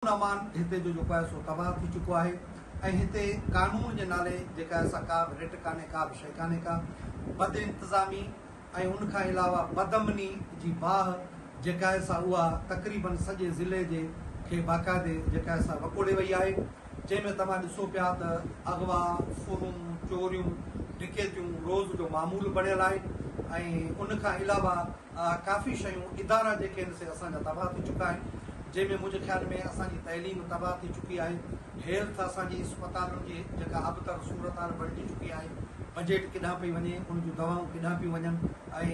امن امان هتي جو جيڪو آهي سو تباهه ٿي چڪو آهي ۽ هتي قانون جي نالي جيڪا آهي سا ڪا به رٽ ڪانهي ڪا به شيء ڪانهي ڪا بد انتظامي ۽ ان کان علاوه بد امني جي باهه جيڪا آهي سا اها تقريباً سڄي ضلعي جي کي باقاعدي جيڪا آهي سا وڪوڙي وئي آهي جنهن ۾ توهان ڏسو پيا ته اغوا ڦرون چوريون ڊڪيتيون روز جو معمول بڻيل آهي ۽ ان کان علاوه اها ڪافي شيون ادارا جيڪي آهن سي اسان جا تباهه ٿي چڪا آهن جنهن ۾ منهنجي خيال ۾ اسان جي تعليم تباهه ٿي چڪي آهي هيلٿ اسان جي اسپتالن جي جيڪا ابتر صورتحال بڻجي چڪي آهي بجيٽ ڪيڏانهن پئي وڃي ان جون دوائون ڪيڏانهن پيون وڃن ۽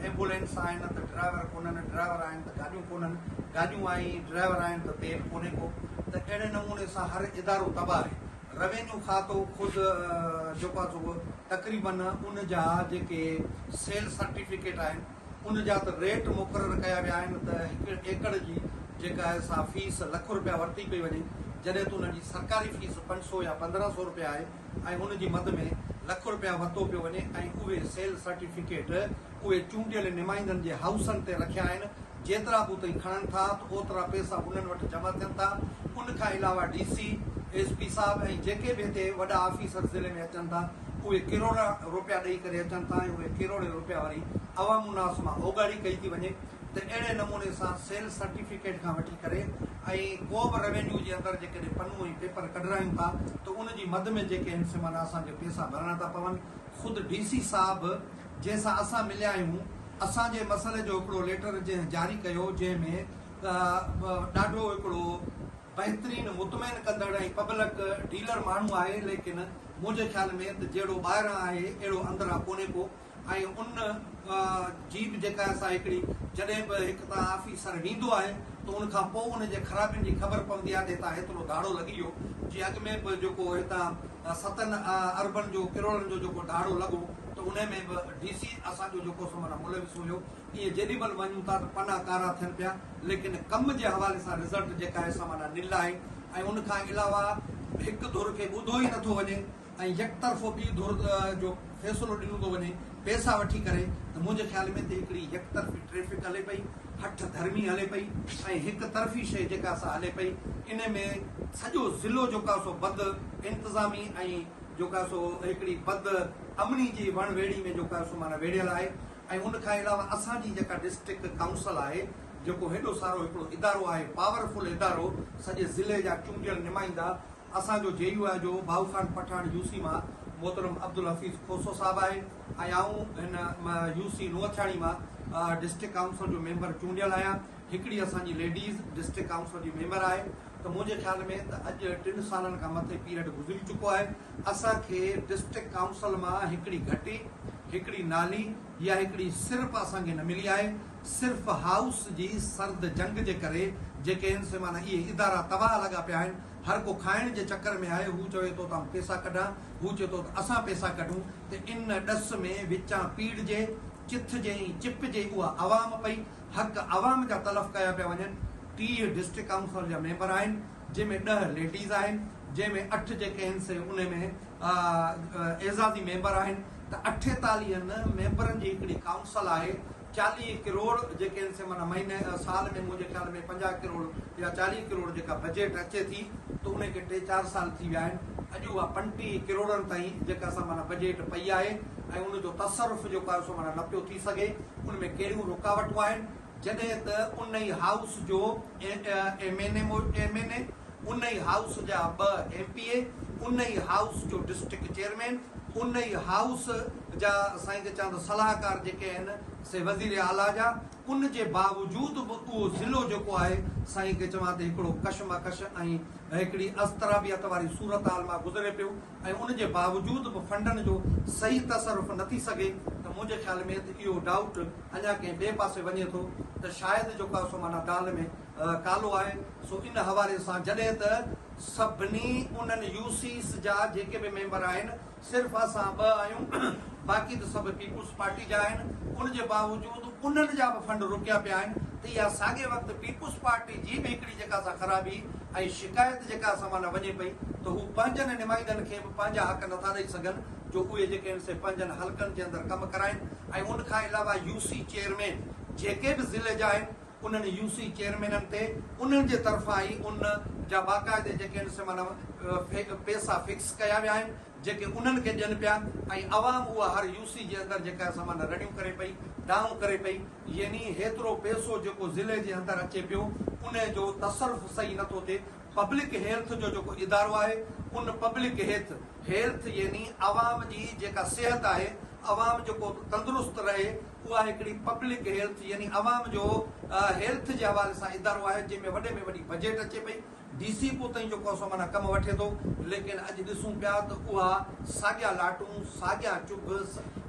ايمبولينس آهن ته ڊرائيور ڪونهن ڊرائيور آهن ته گاڏيون ڪونهن گاڏيون آهن ڊرائيور آهن ته تيل ڪونهي ڪو ته اهڙي نموني سان هر ادارو تباهه آهي روينيو کاتو خود جيڪو آهي سو تقريباً ان جا جيڪي سيل سرٽيفڪيٽ آهن ان جا ته ريٽ مقرر ڪيا ويا آهن ته هڪ ايڪڙ جي جيڪا آهي سا فيس لک رپيا ورتي پئي وڃي جڏهن ته ان جي سرڪاري فيس پنج سو يا پندرهن سو رپيا آهي ۽ ان جي مد ۾ لک رپيا ورتو پيو وڃي ۽ اهي سيل سرٽيفڪيٽ اهي چونڊيل نمائندن جي هائوسن تي رکيا آهن، جيترا به اتي کڻن ٿا ته اوترا پئسا انهن وٽ جمع ٿين ٿا، ان کان علاوه ڊي سي، ايس پي صاحب ۽ جيڪي به هتي وڏا آفيسر ضلعي ۾ اچن ٿا اهي ڪروڙا روپيا ڏئي ڪري اچن ٿا ۽ اهي ڪروڙين روپيا وري عوام الناس مان اوڳاڙي ڪئي ٿي وڃي ته اهڙي نموني سان سيلز سرٽيفڪيٽ کان وٺي ڪري ۽ ڪو به روينيو جي اندر جيڪڏهن پنو ۽ پيپر ڪڍرايون ٿا ته ان جي مد ۾ جيڪي هن سمانا اسان کي پئسا ڀرڻا ٿا پون خود ڊي سي صاحب جنهن سان اسان مليا آهيون اسان جي مسئلي جو هڪڙو ليٽر جنهن جاري ڪيو جنهن ۾ ڏاڍو هڪڙو بهترين مطمئن ڪندڙ ۽ پبلڪ ڊيلر ماڻهو آهي ليڪن منهنجي خيال ۾ ته جهڙو ٻاهران آهي اهڙو اندران ڪونهي ڪو ۽ ان جي به جيڪا اسان هڪڙي جڏهن به هڪ تان آفيسر ويندو آهي ته ان کان پو ان جي خرابين جي خبر پوندي آهي ته هتان هيترو ڌاڙو لڳي ويو جي اڳ ۾ به جيڪو هتان ستن اربن جو ڪروڙن جو جيڪو ڌاڙو لڳو ته انهي ۾ به ڊي سي اسان جو جيڪو سو معنيٰ ملوث هيو ائين جيڏي مهل وڃون ٿا ته پنا ڪارا ٿين پيا ليڪن ڪم جي حوالي سان رزلٽ جيڪا آهي سا معنيٰ نل آهي ۽ ان کان علاوه هڪ ڌر کي ٻڌو ئي نٿو وڃي ۽ يڪ طرفو ٻي ڌر جو فيصلو ڏنو ٿو وڃي پئسا وٺي ڪري ته منهنجي خيال ۾ ته هڪڙي يڪ طرفي ٽريفڪ هلي پئي هٺ ڌرمي هلي پئي ۽ هڪ طرفي شيء جيڪا سا هلي پئي انهي ۾ سڄو ضلعو جيڪا سو بد انتظامي ۽ جوڪا سو هڪڙي بد امني جي وڻ ويڙهي ۾ جوڪا سو معنيٰ ويڙهيل آهي ۽ ان کان علاوه اسان جي جيڪا ڊسٽرڪٽ ڪائونسل آهي جيڪو هيڏو سارو هڪڙو ادارو آهي پاور فل ادارو سڄي ضلعي جا چونڊيل نمائندا اسان جو جي يو آء جو ڀائو خان پٺاڻ يو سي مان محترم عبدالحفيظ کوسو صاحب آهي ۽ آئون هن يو سي نوٿياڻي مان ڊسٽرڪٽ ڪائونسل جو ميمبر چونڊيل آهيان. هڪڙي اسان جي ليڊيز ڊسٽرڪٽ ڪائونسل جي ميمبر آهي ته منهنجي خيال ۾ ته اڄ ٽن سالن کان مٿي پيريڊ گذري چڪو آهي اسان کي ڊسٽرڪٽ ڪائونسل مان هڪڙي گهٽي، هڪڙي نالي يا هڪڙي سرپ اسان کي نه ملي آهي صرف هائوس جي سرد جنگ جي ڪري جيڪي هن سي معنيٰ اهي ادارا تباهه لڳا پيا آهن هر ڪو کائڻ جي چڪر ۾ آهي هو چوي ٿو ته آئون پيسا ڪڍان هو چئي ٿو ته اسان پيسا ڪڍون ته ان ڏس ۾ وچان پيڙجي چٿجي ۽ چپجي اها عوام پئي حق عوام جا تلف ڪيا پيا وڃن، ٽيهه ڊسٽرڪٽ ڪائونسل جا ميمبر آهن جنهن ۾ ڏهه ليڊيز آهن جنهن ۾ اٺ جيڪي آهن سي انهي ۾ اعزازي ميمبر آهن ته اٺيتاليهن ميمبرن جي هڪڙي ڪائونسل آهي چاليهه ڪروڙ جيڪي آهن سي معنيٰ مهيني سال ۾ منهنجي خيال ۾ پنجاهه ڪروڙ يا چاليهه ڪروڙ جيڪا بجيٽ اچي ٿي ته انهي کي ٽي چار سال ٿي ويا آهن اڄ اها پنٽيهه ڪروڙن تائين جيڪا سا معنيٰ بجيٽ پئي آهي ۽ ان جو تصرف جيڪو آهي سو معنيٰ نه پيو ٿي سگهي. ان ۾ ڪهڙيون رڪاوٽون آهن جڏهن ته ان ئي هائوس جو M N A M N A, ان ئي هائوس جا ٻه ايم پي اي، ان ئي هائوس جو ڊسٽرڪٽ چيئرمين، ان ئي هائوس جا سائين ته چوان ته صلاحڪار جيڪي آهن سي وزير اعليٰ جا ان جي باوجود به اهو ضلعو جيڪو آهي سائين ڪي چوان ته هڪڙو ڪشمڪش ۽ هڪڙي اضطرابيت واري صورتحال مان گذري پيو. ۽ ان جي باوجود به فنڊن جو صحيح تصرف نه ٿي سگهي ته منهنجي خيال ۾ ته اهو ڊائوٽ اڃا ڪنهن ٻئي پاسي وڃي ٿو ته شايد جيڪو آهي سو معنيٰ دال ۾ ڪالو آهي سو ان حوالي سان جڏهن ته سڀني انهن يو سيز جا جيڪي به ميمبر آهن صرف اسان ٻه آهيون باقي ته سڀ پيپلز پارٽي جا آهن ان جي باوجود انهن جا به فنڊ روڪيا پيا آهن ته اها ساڳئي وقت پيپلز پارٽي جي به هڪڙي جيڪا سا خرابي ۽ شڪايت جيڪا اسان مان نه وڃي پئي ته هو پنهنجن نمائندن کي به پنهنجا حق نٿا ڏئي سگهن جو اهي جيڪي آهن سي پنهنجن حلقن جي اندر ڪم ڪرائين ۽ ان کان علاوه يو سي چيئرمين جيڪي به ضلعي جا آهن انهن يو سي چيئرمينن تي انهن جي طرفان ئي ان جا باقاعدي جيڪي آهن سي معنيٰ پئسا فڪس ڪيا ويا آهن. جيڪي انهن کي ڏين پيا ۽ عوام اها هر يو سي جي اندر جيڪا سامان رڙيون ڪري پئي، دانهون ڪري پئي، يعني هيترو پئسو جيڪو ضلعي جي اندر اچي پيو ان جو تصرف صحيح نه ٿو ٿئي، پبلڪ هيلٿ جو جيڪو ادارو آهي ان پبلڪ هيٿ، Health، يعني عوام جي جيڪا صحت آهي، عوام جيڪو تندرست رهي اها هڪڙي پبلڪ هيلٿ يعني عوام جو هيلٿ جي حوالي سان ادارو آهي جنهن ۾ وڏي ۾ وڏي بجيٽ اچي پئي، ڊي سي پو تائين جو ڪوسو معنيٰ ڪم وٺي ٿو ليڪن اڄ ڏسون پيا ته اها ساڳيا لاٽون ساڳيا چڀ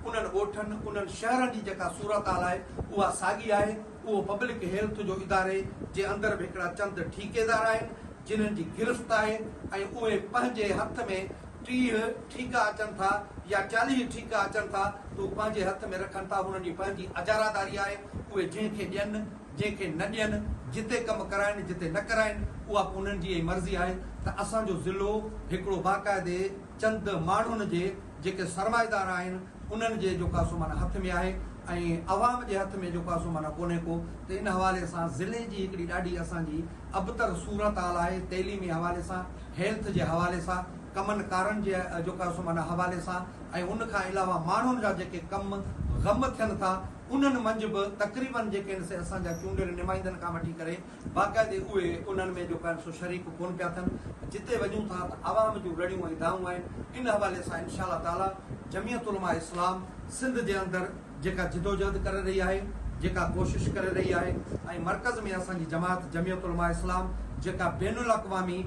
انهن ڳوٺن انهن شهرن جي جيڪا صورتحال آهي اها ساڳي آهي اهو پبلڪ هيلٿ جو اداري جي اندر به هڪڙا چند ٺيڪيدار آهن جنهن جي گرفت آهي ۽ اهي پنهنجي هٿ ۾ ٽيهه ٺيڪا اچن ٿا يا چاليهه ٺيڪا اچن ٿا ته هو پنهنجي هٿ ۾ رکن ٿا هنن جي پنهنجي اجاراداري آهي اهي جنهن کي ڏين جنهن کي نه ڏين، جتي ڪم ڪرائين جتي نه ڪرائين اها به انهن جي ئي مرضي آهي ته اسان جو ضلعو هڪڙو باقاعدي چند ماڻهن جي جيڪي سرمائيدار آهن انهن جي جوڪاسو معنيٰ هٿ ۾ آهي ۽ عوام جي هٿ ۾ جوڪاسو معنيٰ ڪونهي ڪو ته ان حوالي سان ضلعي جي هڪڙي ڏاڍي اسان جي ابتر صورت حال آهي تعليمي حوالي سان هيلٿ جي حوالي سان ڪمن ڪارن جي جوڪاسو معنيٰ حوالي سان ۽ ان کان علاوه ماڻهن جا جيڪي ڪم غم ٿين ٿا انهن منجهه به تقريبن جيڪي هن سي اسان جا چونڊيل نمائندن کان وٺي ڪري باقاعدي اهي انهن ۾ جو ڪن سو شريڪ ڪون پيا ٿن جتي وڃون ٿا ته عوام جون رڙيون ۽ دانهون آهن ان حوالي سان انشاء الله تعالي جميعت علماء اسلام سنڌ جي اندر جيڪا جدوجهد ڪري رهي آهي جيڪا ڪوشش ڪري رهي آهي ۽ مرڪز ۾ اسان جي جماعت جميعت علماء اسلام جيڪا بين الاقوامي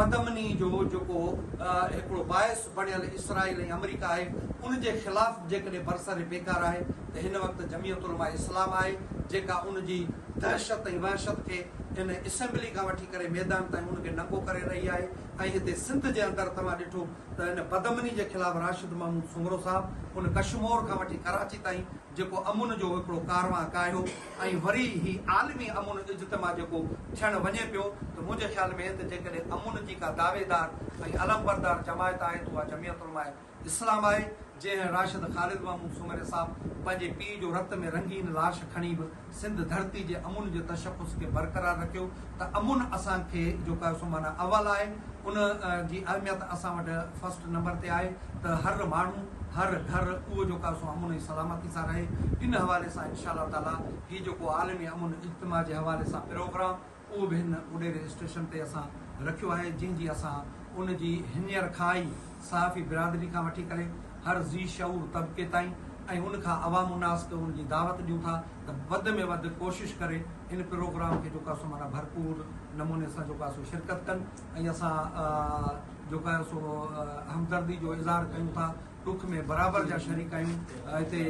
بدامني جو جيڪو هڪڙو باعث بڻيل اسرائيل ۽ آمريڪا آهي ان جي خلاف جيڪڏهن برسر پيڪار آهي ته هن وقت جميعت علماء اسلام آهي جيڪا ان جي دهشت ۽ وحشت کي هن اسيمبلي کان وٺي ڪري ميدان تائين ان کي ننگو ڪري رهي آهي ۽ هتي سنڌ جي اندر توهان ڏٺو ته ان بدامني جي خلاف راشد محمود سومرو صاحب ان ڪشمور کان وٺي ڪراچي تائين جيڪو امن جو هڪڙو ڪاروان ڪاهيو ۽ وري هي عالمي امن اجتماع جيڪو ٿيڻ وڃي پيو ته منهنجي خيال ۾ ته جيڪڏهن امن جي ڪا دعويدار ۽ علمبردار جماعت آهي ته اها جميعت علماء اسلام آهي جنهن راشد خالد محمود سومري صاحب پنهنجي پيء جو رت ۾ رنگين لاش کڻي به سنڌ ڌرتي جي امن جي تشخص کي برقرار رکيو ته امن اسان کي جيڪو سو معنيٰ اول آهي ان جي اهميت اسان وٽ فرسٽ نمبر تي آهي ته هر ماڻهو هر گهر اهو جيڪو سو امن ۽ سلامتي سان رهي ان حوالي سان انشاء الله تعالي هي جيڪو عالمي امن اجتماع جي حوالي سان پروگرام اهو به هن اڏي رجسٽريشن تي اسان رکيو آهي جنهن جي اسان ان جي هينئر کان ئي صحافي برادري کان وٺي ڪري هر ذي شعور طبقي تائين ۽ ان کان عوام الناس کي ان جي دعوت ڏيون ٿا ته وڌ ۾ وڌ ڪوشش ڪري ان پروگرام کي جيڪو آهي سو معنيٰ ڀرپور نموني سان جيڪو آهي سو شرڪت ڪن ۽ اسان جيڪو آهي سو همدردي جو اظهار ڪيون ٿا ڏک ۾ برابر جا شريڪ آهيون هتي